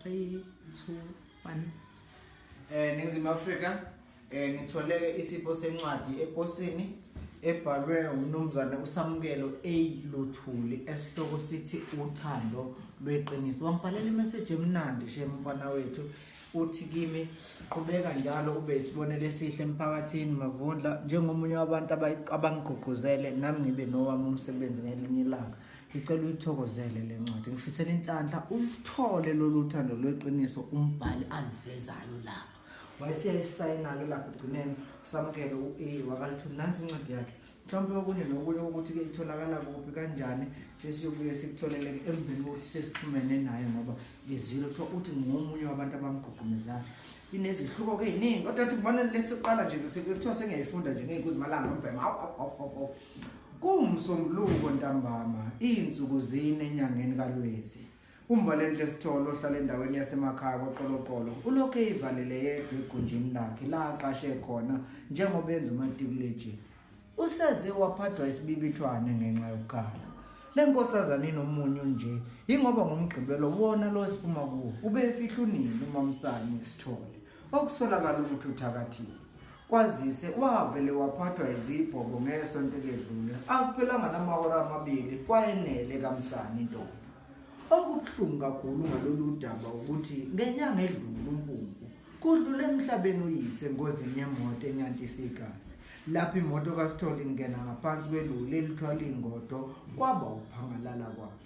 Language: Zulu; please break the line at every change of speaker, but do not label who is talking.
3 2 1 eh
ningizimu Africa eh ngitholeke isipho sencwadi eposini ebhalwe umnumzane uSamukelo A Luthuli esihloko sithi uthando lweqiniso wangibhalela imessage emnandi shem mfana wethu uthi kimi qhubeka njalo ube isibonelo esihle emphakathini mavundla njengomunye wabantu abangigqugquzele nami ngibe nowami umsebenzi ngelinye ilanga ngicela uyithokozele le ncwadi ngifisela inhlanhla ulithole lolu thando lweqiniso umbhali aluvezayo lapho wayeseyayisayina-ke lapho ugcineni usamukele u-a wakalithu nansi incwadi yakhe mhlawumbe okunye nokunye ukuthi-ke itholakala kuphi kanjani sesiyobuye sikutholeleke emveni kokuthi sesixhumene naye ngoba ngizwile kuthiwa uthi ngomunye wabantu abamgqugqumezayo inezihluko ke iningi kodwa athi kubona lesiqala nje kuthiwa sengiyayifunda nje ngeyikuzimalanga umbhema hawu hawu hawu hawu kuwumsombuluko ntambama izinsuku zine enyangeni kalwezi umvalenhle sithole ohlala endaweni yasemakhaya kwaqoloqolo ulokhu eyivalele yedwa egunjini lakhe la aqashe khona njengoba enza umatikuleji Useze waphathwa isibibithwane ngenxa yokukhala. Le nkosazane inomunyu nje, yingoba ngomgqibelo wona lo esiphuma kuwo ubefihla unini umamsane sithole, okusolakala ukuthi uthakathiwe. Kwazise wavele waphathwa izibhobo ngesonto eledlule, akuphelanga namahora amabili kwayenele kamsane intombi. Okubuhlungu kakhulu ngalolu daba ukuthi ngenyanga edlule umfumfu Kudlule emhlabeni uyise engozini yemoto enyantisa igazi. Lapho imoto kaSithole ingena ngaphansi kweloli elithwala ingodo kwaba uphangalala kwakhe.